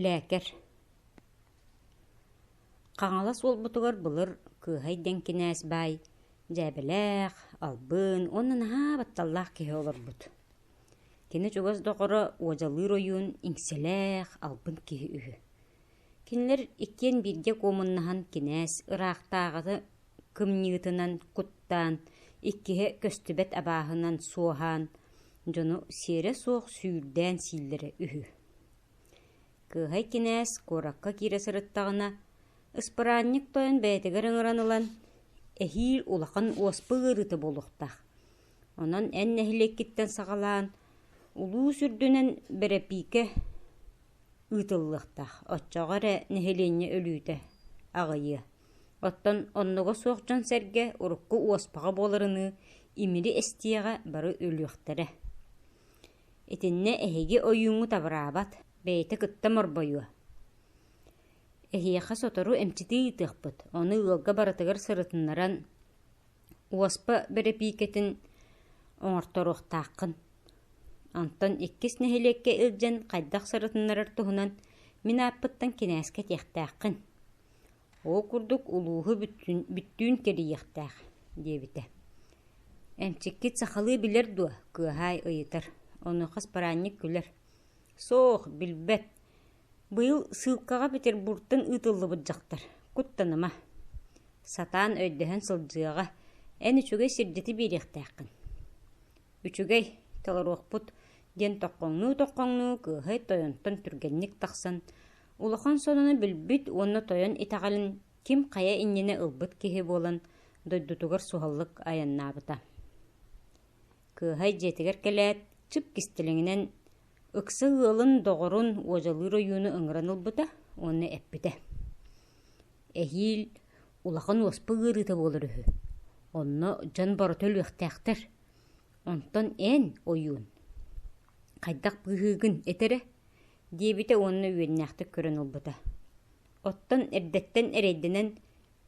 Лэкэр Хаҥалас уолбутугар былыр Кыыһай диэн кинээс баай дьээбэлээх, албын уонна наһаа батталлаах киһи олорбут. Кини чугас доҕоро уодьалыыр ойуун иҥсэлээх, албын киһи үһү. Кинилэр иккиэн бииргэ куомуннаһан кинээс ыраахтааҕыны кымньыытынан куттаан, иккиһэ көстүбэт абааһынан суоһаан, дьону сиэрэ суох сүүрдээн сииллэрэ үһү. Кыыһай кинээс куоракка киирэ сырыттаҕына, ыспыраанньык тойон бэйэтигэр ыҥыран ылан, эһиил улахан уоспа ыарыыта буолуохтаах. Онон эн нэһилиэккиттэн саҕалаан, улуус үрдүнэн бэрэпиикэ ыытыллыахтаах, оччоҕо эрэ нэһилиэнньэ өлүүтэ аҕыйыа. Оттон оннуга суох дьон-сэргэ урукку уоспаҕа буоларыныы, имири эстиэҕэ бары өлүөхтэрэ Итиннэ эһиги ойууҥҥу табыраабат, бэйэтэ кытта морбойуо. Эһиэхэ сотору эмчитии ыытыахпыт, ону ыалга барытыгар сырытыннаран, уоспа бэрэпиикэтин оҥорторуохтааххын. Онтон иккис нэһилиэккэ илдьэн хайдах сырытыннарар туһунан мин ааппыттан кинээскэ этиэхтээххин Ол курдук улууһу бүттүүн кэрийиэхтээх диэбитэ. Эмчиккит сахалыы билэр дуо? кыаһаай ыйытар. Ону хас параанньык күлэр. Суох, билбэт. Быйыл сыылкаҕа Петербуртан ыытыллыбыт дьахтар. Куттаныма. Сатаан өйдөһөн сылдьыаҕа. Эн үчүгэй сирдьити биэриэхтээххин. Үчүгэй, толоруохпут диэн тоқхоҥнуу-тоқхоҥнуу кыаһай тойонтон түргэнник тахсан, Улахан сонуну билбит уонна тойон итэҕэлин ким хайа иннинэ ылбыт киһи буолан дойдутугар суһаллык айаннаабыта. Кыыһай дьиэтигэр кэлээт, чып кистэлэҥинэн ыкса ыалын, доҕорун, уодьалыыр ойууну ыҥыран ылбыта уонна эппитэ. Эһиил улахан уоспа ыарыыта буолар үһү. Онно дьон барыта өлүөхтээхтэр. Онтон эн ойуун хайдах быыһыыгын этэрэ диэбитэ уонна үөннээхтик көрөн ылбыта. Оттон эрдэттэн эрэйдэнэн,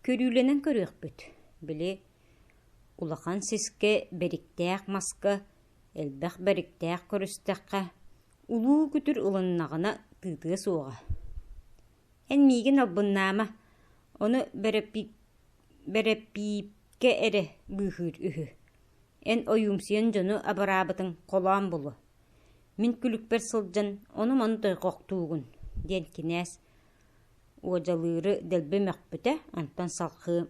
көрүүлэнэн көрүөхпүт. Били улахан сискэ бэриктээх маска, элбэх бэриктээх көрүстэххэ, улуу күтүр ылыннаҕына тыытыа суоҕа. Эн миигин албыннаама, ону бэрэпиипкэ эрэ быыһыыр үһү. Эн ойуумсуйан дьону абыраабытыҥ холоон булуо. Мин күлүкпэр сылдьан «Ону-маны дойҕохтуугун» диэн кинээс уодьалыыры дэлби мөхпүтэ, онтон салҕыы.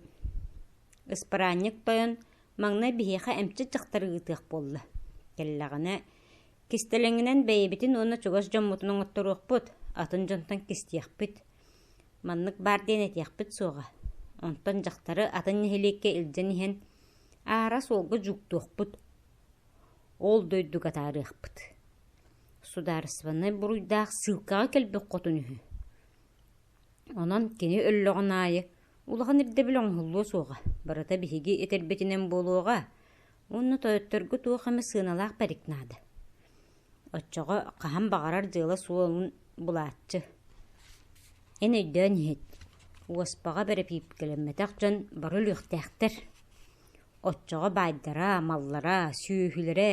Ыспараанньык тойон маҥнай биһиэхэ эмчит дьахтары ыытыах буолла. Кэллэҕинэ кистэлэҥинэн бэйэбитин уонна чугас дьоммутун оҥотторуохпут, атын дьонтон кистиэхпит. Маннык баар диэн этиэхпит суоҕа. Онтон дьахтары атын нэһилиэккэ илдьэн иһэн аара суолга жуктуохпут. Ол дойдуга атаарыахпыт судаарыстыбаннай буруйдаах ссылкаҕа кэлбит хотун үһү онон кини өллөҕүн аайы улахан ирдэбил оҥоһуллуо суоҕа барыта биһиги этэрбитинэн буолуоҕа уонна тойотторго туох эмэ сыаналаах пэрик наада оччоҕо хаһан баҕарар дьыала суолун булааччы эн өйдөөн иһит уоспаҕа бэрэпиипкэлэммэтэх дьон бары өлүөхтээхтэр Оччоҕо баайдара, маллара, сүөһүлэрэ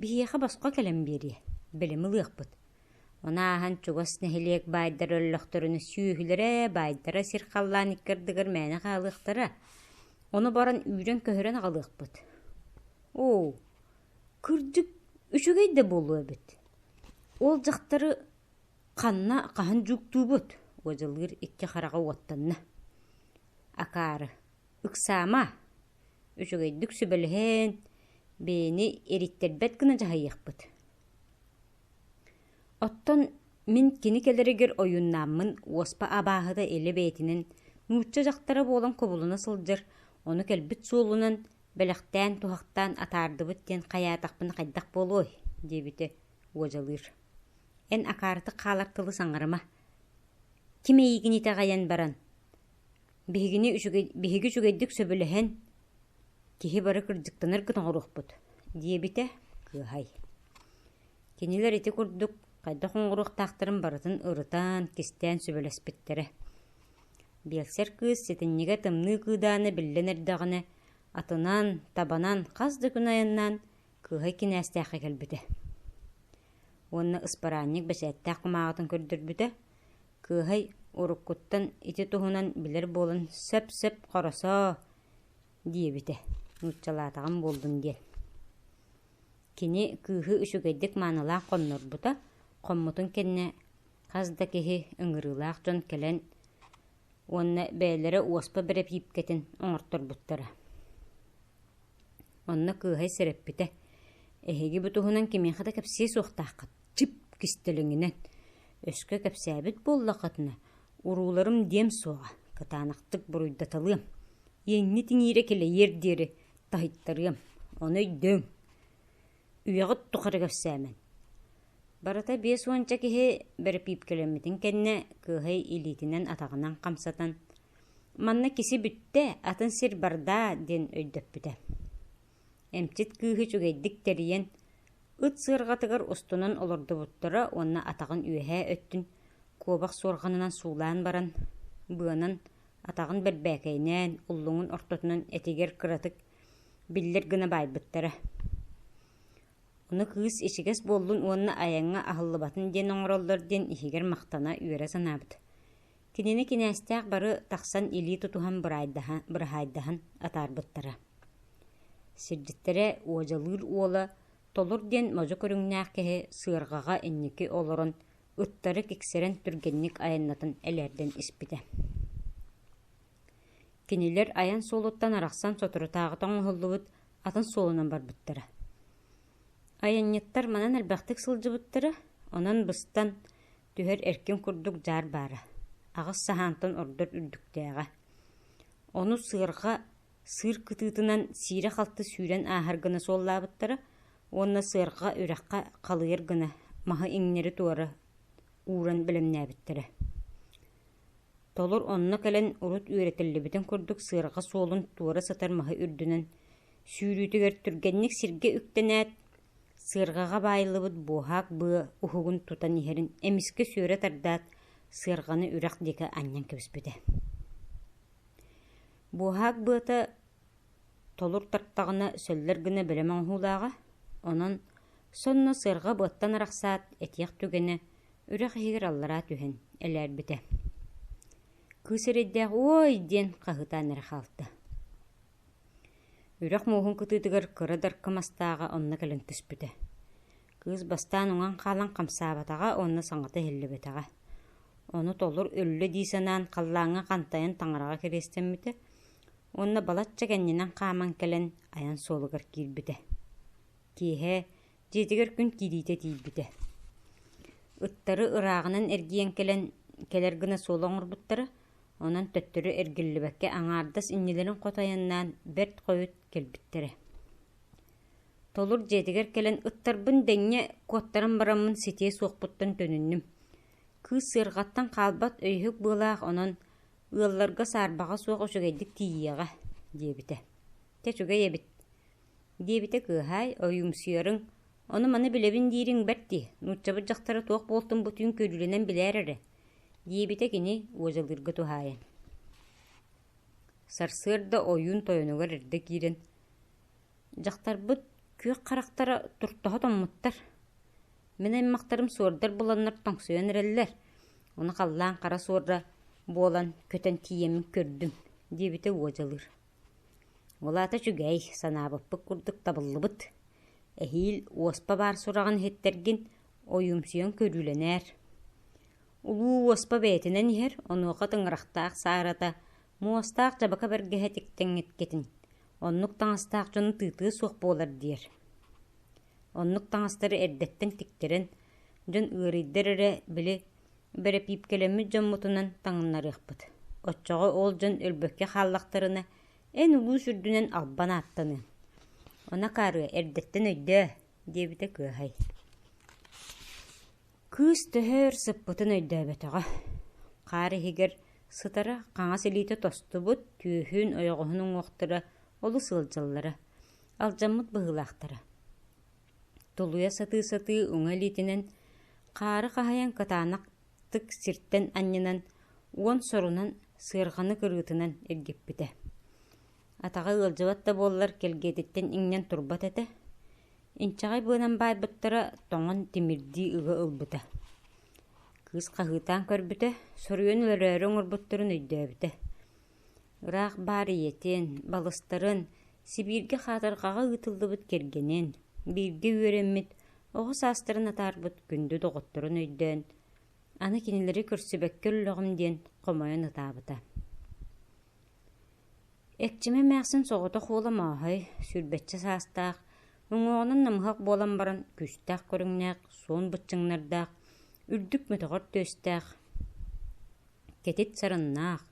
биһиэхэ босхо кэлэн биэриэ, бэлэм ылыахпыт. Ону ааһан чугас нэһилиэк баайдар өллөхтөрүнэ сүөһүлэрэ, баайдара сир халлаан икки ардыгар мээнэ хаалыахтара. Ону баран үүрэн-көһөрөн аҕалыахпыт. Оо, кырдьык үчүгэй да буолуо эбит. Ол дьахтары ханна хаһан дьууктуубут? – уодьалыыр икки хараҕа уоттанна. Акаары Ыксаама, үчүгэйдик сүбэлэһэн, бэйэни ириттэрбэт гына дьаһайыахпыт. Оттон мин кини кэлэригэр ойууннааммын уоспа абааһыта илэ бэйэтинэн нуучча дьахтара буолан кубулуна сылдьар, ону кэлбит суолунан бэлэхтээн туһахтаан атаардыбыт диэн хайаатахпына хайдах буолуой диэбитэ уодьалыыр. Эн акаартык хаалар тылы саҥарыма. Ким эйигин итэҕэйэн баран Биһигини үчүгэй, биһиги үчүгэйдик сөбүлэһэн, киһи бары кырдьыктанар гына оҥоруохпут, диэбитэ кыыһай. Кинилэр ити курдук хайдах оҥоруохтаахтарын барытын ырытан, кистээн сүбэлэспиттэрэ. Биэлсэр кыыс ситинньигэ тымныы кыыдаана биллэн эрдэҕинэ, атынан, табанан хас да күн айаннаан, кыыһай кинээстээххэ кэлбитэ. Уонна ыспараанньык бэчээттээх кумааҕытын көрдөрбүтэ, кыыһай уруккуттан ити туһунан билэр буолан «сөп-сөп, хоросоо» диэбитэ, нууччалаатаҕым буоллун диэн. Кини кыыһы үчүгэйдик маанылаах хоннорбута, хоммутун кэннэ хас да киһи ыҥырыылаах дьон кэлэн уонна бэйэлэрэ уоспа бэрэпиипкэтин оҥорторбуттара. Онно кыыһай сэрэппитэ, «Эһиги бу туһунан кимиэхэ да кэпсиэ суохтааххыт». тип кистэлэҥинэн өскө кэпсээбит буоллаххытына урууларым диэм суоҕа кытаанахтык буруйдаталыам иэҥҥит иҥиирэ килэйиэр диэри таһыйтарыам ону өйдөөҥ үйэҕит тухары кэпсээмэн барыта биэс уонча киһи бэрэпиипкэлэммитин кэннэ кыыһай илиитинэн атаҕынан хамсатан манна киси бүттэ атын сир бардаа диэн өйдөппүтэ Эмчит кыыһы үчүгэйдик тэрийэн, ыт сыарҕатыгар устунан олордубуттара уонна атаҕын үөһээ өттүн куобах суорҕанынан суулаан баран, быанан атаҕын бэрбээкэйнээн, уллуҥун ортотунан этигэр кыратык биллэр гына баайбыттара. Ону кыыс ичигэс буоллун уонна айаҥҥа аһыллыбатын диэн оҥороллор диэн иһигэр махтана үөрэ санаабыт Кинини кинээстээх бары тахсан илии тутуһан быраайдаһан, быраһаайдаһан атаарбыттара. Сирдьиттэрэ уодьалыыр уола Толор диэн модьу көрүҥнээх киһи сыарҕаҕа инники олорон, ыттары киксэрэн түргэнник айаннатан элээрдэн испитэ. Кинилэр айан суолуттан арахсан соторутааҕыта оҥоһуллубут атын суолунан барбыттара. Айанньыттар манан элбэхтик сылдьыбыттара, онон быстан, Түһэр эркин курдук дьаар баара, аҕыс саһаантан ордор үрдүктээҕэ. Ону сыарҕа сыыр кытыытынан сиирэ-халты сүүрэн ааһар гына суоллаабыттара уонна сыарҕа үрэххэ халыйар гына маһы иҥнэри-туора ууран бэлэмнээбиттэрэ. Толор онно кэлэн урут үөрэтиллибитин курдук сыарҕа суолун туора сытар маһы үрдүнэн сүүрүүтүгэр түргэнник сиргэ үктэнээт, Сыарҕаҕа баайыллыбыт буоһаак быа уһугун тутан иһэрин эмискэ сүөрэ тардаат, сыарҕаны үрэх диэки анньан кэбиспитэ Буоһаак быата толур тартаҕына сөллөр гына бэлэм оҥоһуулааҕа, онон сонно сыарҕа быаттан арахсаат этиэх түгэнэ үрэх иһигэр аллараа түһэн элээрбитэ. Кыыс эрэйдээх «Уой!» диэн хаһыытаан эрэ хаалта Үрэх мууһун кытыытыгар кыра дарка мастааҕа онно кэлэн түспүтэ. Кыыс бастаан уҥан хаалан хамсаабатаҕа уонна саҥата иһиллибэтэҕэ. Ону толор өллө дии санаан халлааҥҥа хантайан таҥараҕа кэриэстэммитэ уонна балачча кэннинэн хааман кэлэн айан суолугар киирбитэ. Киэһэ дьиэтигэр күн киириитэ тиийбитэ ыттары ырааҕынан эргийэн кэлэн кэлэр гына суола оҥорбуттара онон төттөрү эргиллибэккэ аҥаардас иннилэрин хото айаннаан бэрт хойут кэлбиттэрэ толур дьиэтигэр кэлэн ыттарбын дэҥҥэ куоттаран бараммын ситиэ суохпуттан төнүннүм кыыс сыарҕаттан хаалбат өйүһүк быалаах онон ыалларга саарбаҕа суох үчүгэйдик тиийиэҕэ диэбитэ чэ үчүгэй эбит диэбитэ кыыһаай, ойуумсуйарыҥ, ону маны билэбин диириҥ бэрт дии, нууччабыт дьахтара туох буолтун бу түүн көрүүлэнэн билээр эрэ, диэбитэ кини уодьалыырга туһаайан. Сарсыарда ойуун тойонугар эрдэ киирэн «Дьахтарбыт күөх харахтара туртаһа томмуттар. Мин аймахтарым суордар буланнар тоҥсуйан эрэллэр. Ону халлаан хара суорра буолан көтөн тиийэммин көрдүм», диэбитэ уодьалыыр. Ол аата үчүгэй, санаабыппыт курдук табыллыбыт. Эһиил уоспа баар сураҕын иһиттэргин, ойуумсуйан көрүүлэнээр. Улуу уоспа бэйэтинэн иһэр, онуоха тыҥырахтаах саарата, муостаах дьабака бэргэһэ тиктэҥҥиткэтин. Оннук таҥастаах дьону тыытыа суох буолар диэр. Оннук таҥастары эрдэттэн тиктэрэн, дьон ыарыйдар эрэ, били, Бэрэпиипкэлэммит дьоммутунан таҥыннарыахпыт, оччоҕо ол дьон өлбөккө хааллахтарына, эн улуус үрдүнэн албан ааттаныаҥ, она акаарыа, эрдэттэн өйдөө, диэбитэ кыаһай Кыыс төһө өр сыппытын өйдөөбөтөҕө. Хаар иһигэр сытара хаҥас илиитэ тостубут, түөһүн, ойоҕоһун уҥуохтара олус ыалдьаллара, алдьаммыт быһыылаахтара. Тулуйа сатыы-сатыы уҥа илиитинэн хаары хаһайан кытаанахтык сиртэн анньынан уон сорунан сыарҕаны кырыытынан иргиппитэ. Атаҕа ыалдьыбат да буоллар кэлгиэтиттэн иҥнэн турбат этэ, инчэҕэй быанан баайбыттара тоҥон тимирдии ыга ылбыта. Кыыс хаһыытаан көрбүтэ, соруйан өлөрөөрү оҥорбуттарын өйдөөбүтэ. Ыраах баар ийэтин, балыстарын, Сибииргэ хаатырҕаҕа ыытыллыбыт кэргэнин, бииргэ үөрэммит, оҕо саастарын атаарбыт күндү доҕотторун өйдөөн, аны кинилэри көрсүбэккэ өллөҕүм диэн хомойон ытаабыта. Эрчимэ эмээхсин соҕотох уола Мааһай, сүүрбэччэ саастаах, уҥуоҕунан намыһах буолан баран күүстээх көрүҥнээх, суон быччыҥнардаах, үрдүк мөтөҕөр түөстээх, кэтит сарыннаах,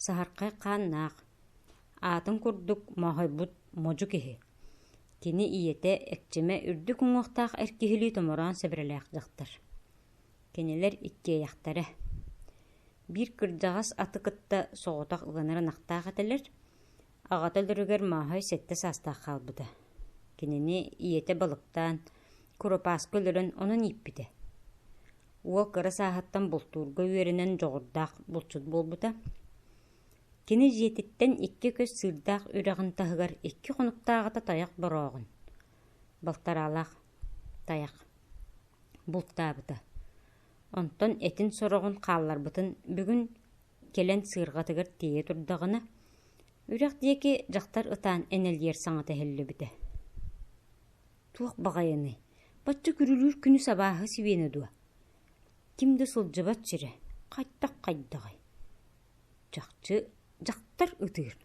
Саһархай хааннаах, аатын курдук моһойбут модьу киһи. Кини ийэтэ Экчимэ үрдүк уҥуохтаах эр киһилии томороон сэбирэлээх дьахтар. Кинилэр иккиэйэхтэрэ. Биир кырдьаҕас аты кытта соҕотох ыанар ынахтаах этилэр, Аҕата өлөрүгэр Мааһай сэттэ саастаах хаалбыта. Кинини ийэтэ балыктаан, курупааска өлөрөн онон ииппитэ. Уол кыра сааһыттан бултуурга үөрэнэн дьоҕурдаах булчут буолбута. Кини дьиэтиттэн икки көс сыырдаах үрэҕин таһыгар икки хонуктааҕыта тайах борооҕун, балтараалаах тайах, бултаабыта. Онтон этин сороҕун хаалларбытын бүгүн Кэлэн сыырҕатыгар тиэйэ турдаҕына, үрэх диэки дьахтар ытаан энэлийэр саҥата иһиллибитэ «Туох баҕайыный, бачча күрүлүүр күнү сабааһы сибиэнэ дуо? Ким да сылдьыбат сирэ, хайдах-хайдаҕый?» Чахчы дьахтар ытыыр.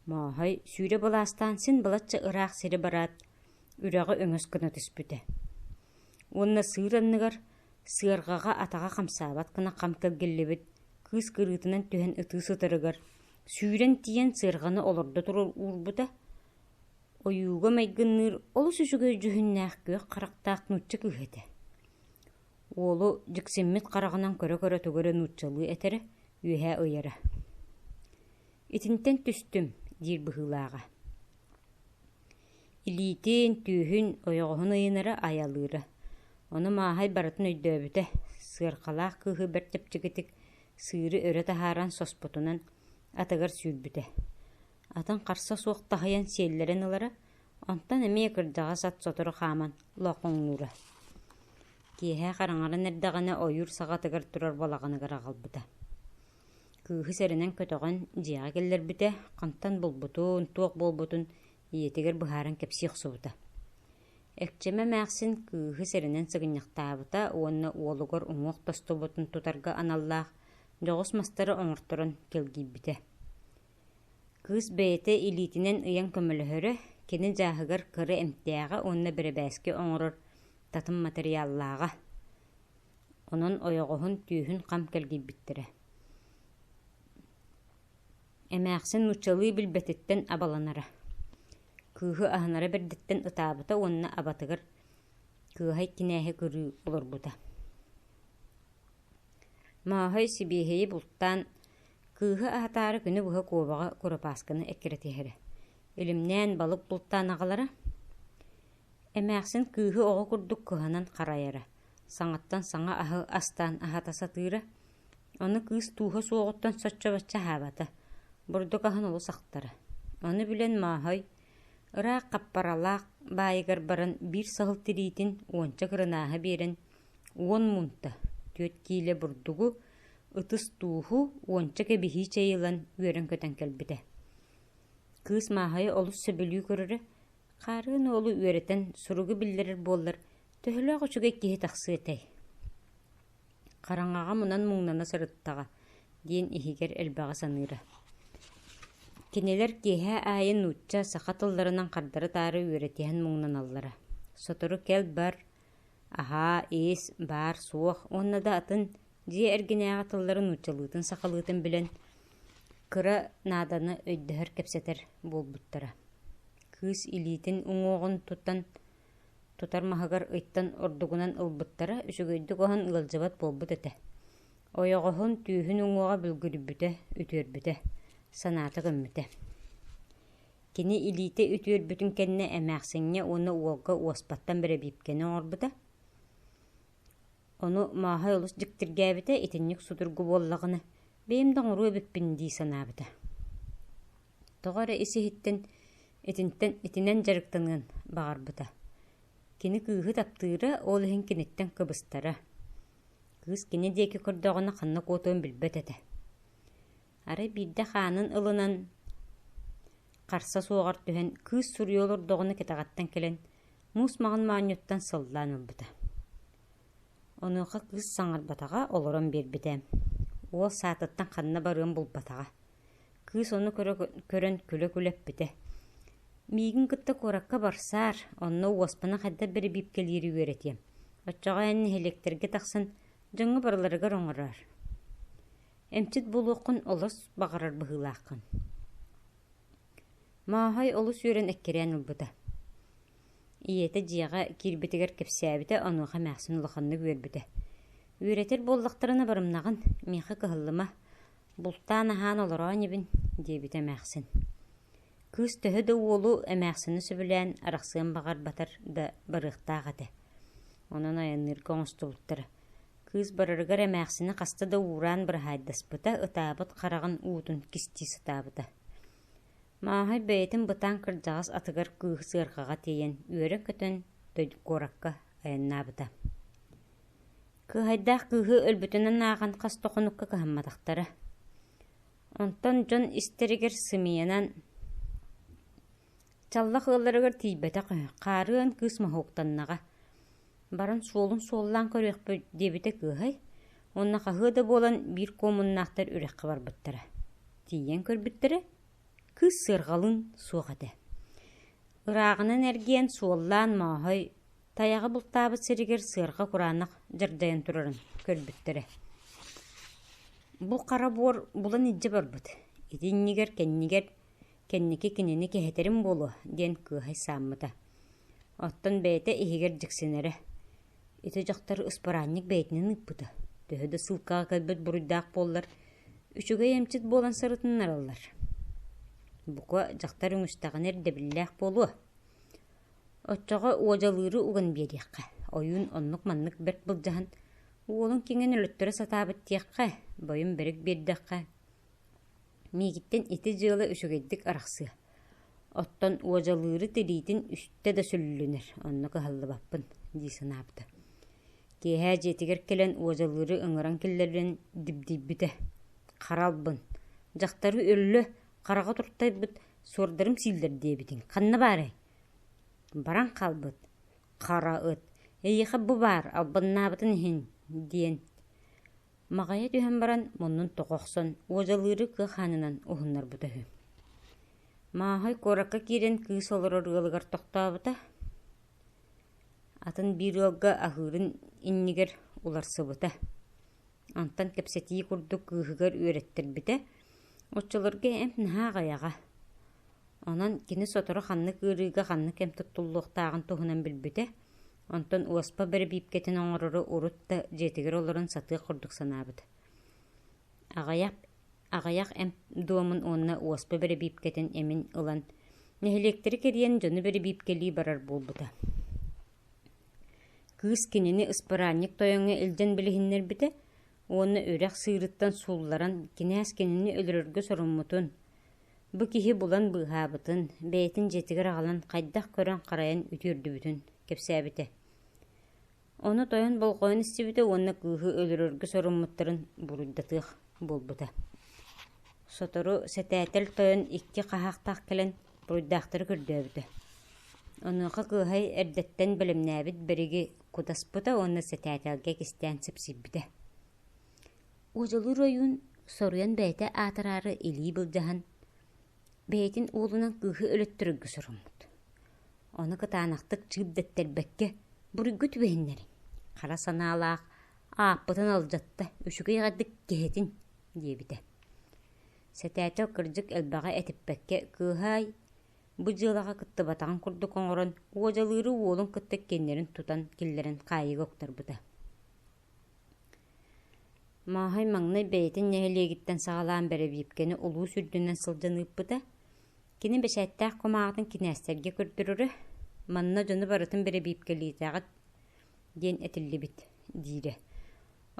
Мооһой сүүрэ былаастаан син балачча ыраах сири бараат, үрэҕи өҥөс гына түспүтэ. Уонна сыыр анныгар Сыарҕаҕа атаҕа хамсаабат гына хам кэлгиллибит кыыс кырыытынан түһэн ытыы сытарыгар, сүүрэн тиийэн сыарҕаны олордо турар уурбута, ойууга майгынныыр олус үчүгэй дьүһүннээх күөх харахтаах нуучча кыыһа этэ. Уолу дьиксиммит хараҕынан көрө-көрө тугу эрэ нууччалыы этэрэ, үөһэ ыйара: «Итинтэн түстүм» диир быһыылааҕа. Илиитин, түүһүн, ойоҕоһун ыйынара, айалыыра. Ону Мааһай барытын өйдөөбүтэ, сыарҕалаах кыыһы бэрт чэпчэкитик сыыры өрө таһааран соспотунан атыгар сүүрбүтэ. Атын харса суох таһыйан сиэллэрин ылара, онтон эмиэ кырдьаҕас ат сотору хааман лоохоҥнуура. Киэһэ хараҥаран эрдэҕинэ ойуур саҕатыгар турар балаҕаныгар аҕалбыта Кыыһы сэрэнэн көтөҕөн дьиэҕэ киллэрбитэ, хантан булбутун, туох буолбутун ийэтигэр быһааран кэпсиэ охсубута. Экчэмэ эмээхсин кыыһы сэрэнэн сыгынньахтаабыта уонна уолугар уҥуох тостубутун тутарга аналлаах дьоҕус мастары оҥорторон кэлгийбитэ. Кыыс бэйэтэ илиитинэн ыйан көмөлөһөрө, кини дьааһыгар кыра эмтээҕэ уонна бэрэбээски оҥорор татым матырыйааллааҕа. Онон ойоҕоһун түөһүн хам кэлгийбиттэрэ Эмээхсин нууччалыы билбэтиттэн абаланара, кыыһы аһынара бэрдиттэн ытаабыта уонна абатыгар кыыһай кинээһи көрүү олорбута Мааһай сибиэһэйи бултаан, кыыһы аһатаары күнү быһа куобаҕа куропаасканы эккирэтиһэрэ, илимнээн балык бултаан аҕалара. Эмээхсин кыыһы оҕо курдук кыһанан харайара, саҥаттан саҥа аһы астаан аһата сатыыра, ону кыыс тууһа суоҕуттан соччо-бачча аһаабата, бурдук аһын олус ахтара. Ону билэн Мооһой, ыраах хаппаралаах баайыгар баран биир саһыл тириитин уонча кырынааһы биэрэн, уон муунта, түөрт киилэ бурдугу, ытыс тууһу, уонча кэбиһии чэй ылан үөрэн-көтөн кэлбитэ. Кыыс Мааһайы олус сөбүлүү көрөрө, хаарыан уолу үөрэтэн суругу биллэрэр буоллар, Төһөлөөх үчүгэй киһи тахсыа этэй, хараҥаҕа мунан-муҥнана сырыттаҕа, диэн иһигэр элбэҕи саныыра. Кинилэр киэһэ аайы нуучча, саха тылларынан хардары-таары үөрэтиһэн муҥнаналлара. Сотору кэл-бар, аһаа, иис, баар, суох уонна да атын дьиэ эргинээҕи тыллары нууччалыытын-сахалыытын билэн, кыра нааданы өйдөһөр-кэпсэтэр буолбуттара. Кыыс илиитин уҥуоҕун тутан тутар маһыгар ыйтан ордугунан ылбыттара үчүгэйдик оһон ыалдьыбат буолбут этэ. Ойоҕоһун түүһүн уҥуоҕа бүлгүрүйбүтэ, үтүөрбүтэ, санаата көммүтэ. Кини илиитэ үтүөрбүтүн кэннэ эмээхсиҥҥэ уонна уолга уоспаттан бэрэбиипкэни оҥорбута. Ону мааһай олус дьиктиргээбитэ итинник судургу буоллаҕына, бэйэм да оҥоруо эбиппин дии санаабыта тоҕо эрэ ис иһиттэн итинтэн итинэн дьарыктаныан баҕарбыта. Кини кыыһы таптыыра, ол иһин киниттэн кыбыстара. Кыыс кини диэки көрдөҕүнэ ханна куотуон билбэт этэ. Арай биирдэ хаанын ылынан харса суоҕар түһэн кыыс суруйа олордоҕуна кэтэҕэттэн кэлэн муус маҕан моонньуттан сыллаан ылбыта. Онуоха кыыс саҥарбатаҕа, олорон биэрбитэ. Уол саатыттан ханна барыан булбатаҕа. Кыыс ону көрөн күлэ-күлэ эппитэ: «Миигин кытта куоракка барсаар, онно уоспана хайдах бэрэбиэркэлиири үөрэтиэм, оччоҕо эн нэһилиэктэргэ тахсан дьоҥҥо барыларыгар оҥороор. Эмчит буолуоххун олус баҕарар быһыылааххын» Мааһай олус үөрэн эккирээн ылбыта. Ийэтэ дьиэҕэ киирбитигэр кэпсээбитэ онуоха эмээхсин улаханнык үөрбүтэ. Үөрэтэр буоллахтарына барымнаҕын, миэхэ кыһаллыма, Бултаан аһаан олороон инибин, диэбитэ эмээхсин. Кыыс төһө да уолу эмээхсини сөбүлээн арахсыан баҕарбатар да барыахтаах этэ. Онон айанныырга оҥостубуттара. Кыыс барарыгар эмээхсини хаста да уураан быраһаайдаспыта, ытаабыт хараҕын уутун кистии сатаабыта. Мааһай бэйэтин бытаан кырдьаҕас атыгар кыыһы сыарҕаҕа тиэйэн үөрэ көтөн куоракка айаннаабыта. Кыыһайдаах кыыһы өлбүтүнэн ааҕан хас да хонукка кыһамматахтара. Онтон дьон истэригэр сымыйанан чаллах ыалларыгар тиийбэтэх үһү. Хаарыан кыыс моһууктаннаҕа. Баран суолун суоллаан көрүөхпүт диэбитэ кыыһай уонна хаһыа да буолан биир куомуннаахтар үрэххэ барбыттара. Тиийэн көрбүттэрэ кыыс сыарҕалыын суох этэ. Ырааҕынан эргиэн суоллаан мооһой Тайаҕы бултаабыт сиригэр сыарҕа кураанах дьардайан турарын көрбүттэрэ. Бу хара буор булан илдьэ барбыт. Итиннигэр кэннигэр кэнники кинини кэһэтэрим буолуо диэн кыыһай сааммыта. Оттон бэйэтэ иһигэр дьиксинэрэ. Ити дьахтар ыспараанньык бэйэтинэн ыыппыта. Төһө да сыылкаҕа кэлбит буруйдаах буоллар, үчүгэй эмчит буолан сырытыннараллар. Бука, дьахтар үҥүстэҕинэ ирдэбиллээх буолуо. Оччоҕо уодьалыыры уган биэриэххэ, ойуун оннук-маннык бэрт былдьаһан, уолуҥ киҥин өлөттөрө сатаабыт диэххэ, бойум бэрик биэрдэххэ, миигиттэн ити дьыала үчүгэйдик арахсыа. Оттон уодьалыыры тириитин үстэ да сүллүнэр, онно кыһаллыбаппын дии санаабыта. Киэһэ дьиэтигэр кэлэн уодьалыыры ыҥыран киллэрэн дибдийбитэ. Хара албын, дьахтары өллө, хараҕа туртайбыт Суордарым сииллэр диэбитиҥ, ханна баарай? Баран хаалбыт, хара ыт, эйиэхэ бу баар, албыннаабытын иһин, диэн Маҕайа түһэн баран муннун тоҕо охсон, уодьалыыры кыа хаанынан уһуннарбыта үһү. Мааһай куоракка киирэн кыыс олорор ыалыгар тохтообута. Атын биир ыалга аһыырын иннигэр уларсыбыта Онтон кэпсэтии курдук кыыһыгар үөрэттэрбитэ. Оччолорго эмп наһаа аҕыйаҕа. Онон кини сотору ханнык ыарыыга ханнык эмп туттуллуохтааҕын туһунан билбитэ. Онтон уоспа бэрэбиипкэтин оҥорору урут да дьиэтигэр олорон сатыах курдук санаабыт. Аҕыйах, аҕыйах эмп дуомун уонна уоспа бэрэбиипкэтин эмин ылан, нэһилиэктэри кэрийэн дьону бэрэбиипкэлии барар буолбута. Кыыс кинини ыспыраанньык тойоҥҥо илдьэн билиһиннэрбитэ уонна үрэх сыырыттан суулларан кинээс кинини өлөрөргө соруммутун, бу киһи булан быыһаабытын, бэйэтин дьиэтигэр аҕалан хайдах көрөн-харайан үтүөрдүбүтүн кэпсээбитэ. Ону тойон болҕойон истибитэ уонна кыыһы өлөрөргө соруммуттарын буруйдатыах буолбута. Сотору сэтээтэл тойон икки хаһаахтаах кэлэн туруйдаахтары көрдөөбүтэ. Онуоха кыыһай эрдэттэн бэлэмнээбит бэриги кутаспыта уонна сэтээтэлгэ кистээн сипсийбитэ. Ужалыыр ойуун соруйан бэйэтэ аатыраары илии былдьаһан, бэйэтин уолунан кыыһы өлөттөрөргө соруммут. Ону кытаанахтык чыып дэттэрбэккэ буруйга түбэһиннэрин, хара санаалаах ааппытын алдьатта, үчүгэй эҕэрдик киһитин диэбитэ. Сэтээтэ кырдьык элбэҕи этиппэккэ кыыһаай, бу дьыалаҕа кыттыбатаҕын курдук оҥорон, уодьалыыры уолун кытта киэннэрин тутан киллэрэн хаайыыга уктарбыта. Мааһай маҥнай бэйэтин нэһилиэгиттэн саҕалаан бэрэбиэркэни улуус үрдүнэн сылдьан ыыппыта. Кини бэчээттээх кумааҕытын кинээстэргэ көрдөрөрө. Манна дьону барытын бэрэбиэркэлиитэҕит, диэн этиллибит диирэ.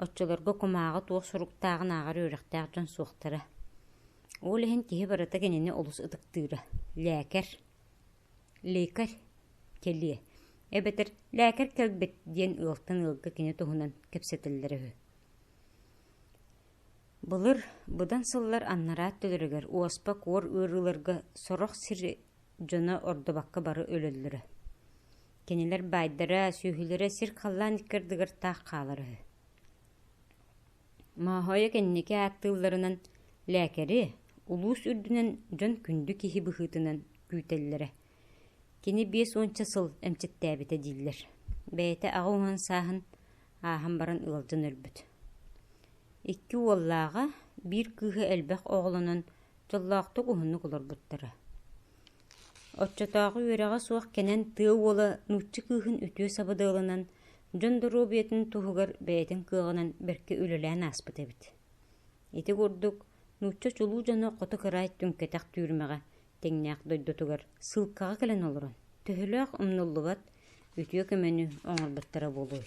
Оччолорго кумааҕы туох соруктааҕын ааҕар үөрэхтээх дьон суохтара. Ол иһин киһи барыта кинини олус ытыктыыра. Лээкэр. Лекарь. Кэлиэ. Эбэтэр лээкэр кэлбит диэн ыалтан ыалга кини туһунан кэпсэтэллэрэ үһү. Былыр быдан сыллар аннараат төлөрүгэр уоспа куор ыарыыларга сорох сир дьоно ордубакка бары өлөллөрө. Кинилэр баайдара, сүөһүлэрэ сир-халлаан икки ардыгар-таах хаалар үһү. Мооһойо кэнники ааттыылларынан лээкэри, улуус үрдүнэн дьон күндү киһи быһыытынан күүтэллэрэ. Кини биэс уонча сыл эмчиттээбитэ дииллэр. Бэйэтэ аҕа уһун сааһын ааһан баран ыалдьан өлбүт. Икки уоллааҕа, биир кыыһа элбэх оҕолонон дьоллоохтук уһуннук олорбуттара. Оччотооҕу үөрэҕэ суох кэнэн тыа уола нуучча кыыһын үтүө сабыдыалынан, дьон доруобуйатын туһугар бэйэтин кыаҕынан бэркэ үлэлээн ааспыт эбит. Ити курдук, нуучча чулуу дьоно хоту кыраай түҥкэтэх түүрмэҕэ тэҥнээх дойдутугар сыылкаҕа кэлэн олорон, төһөлөөх умнуллубат, үтүө көмөнү оҥорботторо буолуой